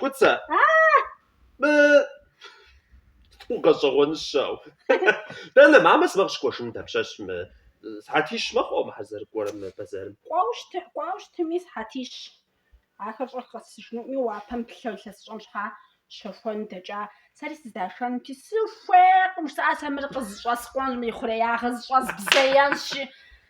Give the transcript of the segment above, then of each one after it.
Кӏуцэ. Мы гъэщӏэгъуэныщэу. Дэнэ мамэ сымэ къыщыкӏуэжыну дапщэщ мы сыхьэтищ мэхъу мыхэр зэрыкӏуэрэ мы бэзэрым. Кӏуауэ щыты, кӏуауэ щытыми сыхьэтищ. Ахэр щӏэх къэсыжынуӏми уапэм плъэ илъэсыщӏэм щхьа щэхуэн дэкӏа. Сэри сыздашэнути сыхуейкъым, жысӏа сэ мыр къызэщӏэскъуэнщ, мы ихъуреягъыр зэщӏэзбзеенщи.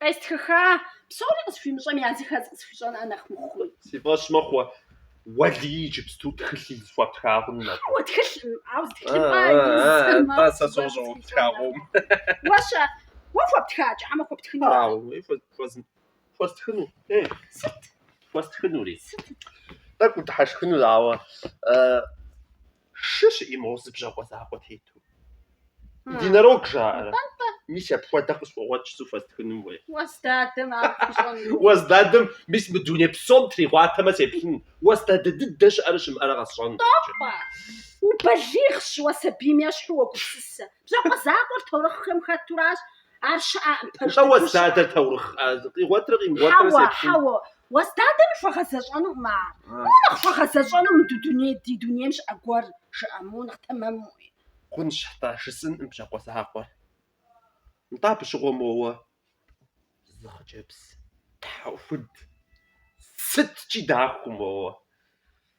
Къестхыха, псори къысхуимыщӏэми я зыхэз къысхуищӏэн нэхъ мыхъуми. Си фӏэщ мэхъу, Уэлий иджыпсту тхылъ из хуэптха хъунум абы. Хьэуэ, тхылъым, ауэ зы тхылъымпӏэ изым. Атӏэ, сэ сощӏэ уэ хуэптха хъунум. Уэ-щэ, уэ хуэптха, хьэмэ хуэптхыну ара? Хьэуэ, уей хуэзым, хуэстхыну, ей. Сыт? Хуэстхынури. Сыт? Тӏэкӏу дыхьэшхынут, ауэ шы щыӏи моуэ зы бжьакъуэ закъуэ тету. Единорог жаӏэрэ? Мис апхуэдэ къысхуэгъуэт жысӏу хуэстхынум уей. Уэс дадэм ар пщӏэну. Уэс дадэм мис мы дуней псом тригъуатэмэ сеплъын. Уэс дадэ дыдэ щыӏэрэ щымыӏэрэ къэсщӏэн. Тӏэпӏэ! Убалигъщ уэ сабийм ещхьу уэгупсысэ. Бжьакъуэ закъуэр таурыхъхэм хэтуращ, Ар щыӏэкъым пэжу. Нтӏэ, Уэс дадэр таурыхъ къигъуэтырэ къимыгъуэтырэ сеплъын. Хьэуэ, хьэуэ, Уэс дадэм хуэгъэзэщӏэнукъым ар. Моуэ нэхъ хуэгъэзэщӏэну мы ду дуней, ди дунейм щыӏэ гуэр, жыӏэ, моуэ нэхъ тэмэмуи. Хъунщ, нтӏэ, жысӏэнкъым бжьакъуэ закъуэр. Нтӏэ, абы щыгъуэ моуэ зы хъыджэбз тхьэӏухуд сыткӏи дахэу моуэ.